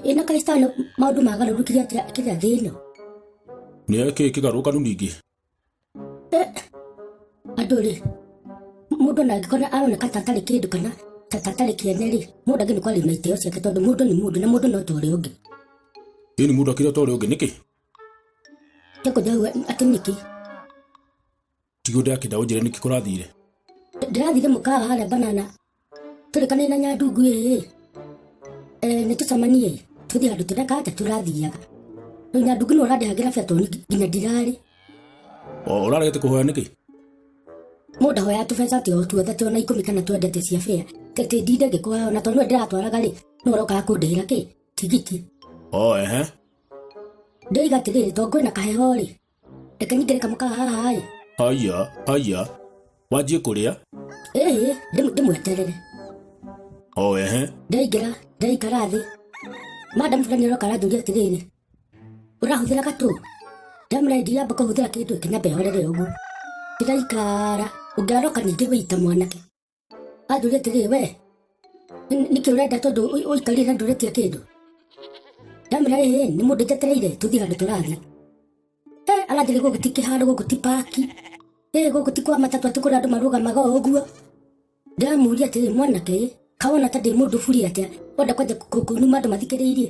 ĩno karĩcitano maũndũ magarũrũkire atĩa kĩrĩa thĩ ĩno nĩ kĩ kĩgarũrũkanu ningĩ andũ rĩ mũndũ ona angĩkorwo aroneka ta atarĩ kĩndũ kana ta ta atarĩ kĩene rĩ mũndũ angĩ nĩ kwarĩma itĩo ciake tondũ mũndũ nĩ mũndũ na mũndũ no ta ũrĩa ũngĩ ĩ nĩ mũndũ akĩrĩ o ta ũrĩa ũngĩ nĩkĩ tekũnjagua atĩ nĩkĩ Tiguo ndakĩnda ũnjĩre nĩkĩ kũrathire. Ndĩrathire mũkawa harĩa banana. Tũrĩkanĩre na nyandungu ĩĩ. Eh, nĩ tũcemanie ĩĩ. Tũthiĩ handũ tũndakanja tũrathiaga. Rĩu nyandungu nĩ ũrandĩhagĩra bia tondũ ngi- nginya ndirarĩ. O ũraregete kũhoya nĩkĩ? Mũndũ ahoya tũbeca atĩ o tuothe tũona ikũmi kana twendete cia bĩa. Tete ndinde ngĩkũhoya ona tondũ nĩ ndĩratwaraga rĩ. Nĩ ũrokaga kũndĩhĩra kĩ? Tigiti. O ehe. Ndĩiga atĩrĩrĩ tondũ kwĩna kaheho rĩ. reke nyingĩre kamũka haha ĩ aya aya wanjie kũrĩa ĩĩ ndĩmũ- ndĩmweterere o ehe ndaingĩra ndaikara thĩ madamu fulani aroka aranjũria atĩrĩrĩ ũrahũthĩra gatũ ndamũra ndiamba kũhũthĩra kĩndũ kĩna mbehorere ũguo ndĩraikara ũngĩaroka ningĩ gũita mwanake Athuri atĩrĩrĩ we nĩkĩ ũrenda tondũ ũikarire na ndũretia kĩndũ ndamĩra ĩĩ nĩ mũndũ njetereire tũthiĩ handũ tũrathiĩ Eh, aranjĩrĩ gũkũ ti kĩharo gũkũ ti paki ĩĩ gũkũ ti kwa matatũ atĩ kũrĩ andũ marũgamaga o ũguo ndĩramũria atĩrĩ mwanake ĩ kawona ta ndĩ mũndũ buri atĩa wenda kwanja kũnuma andũ mathikĩrĩirie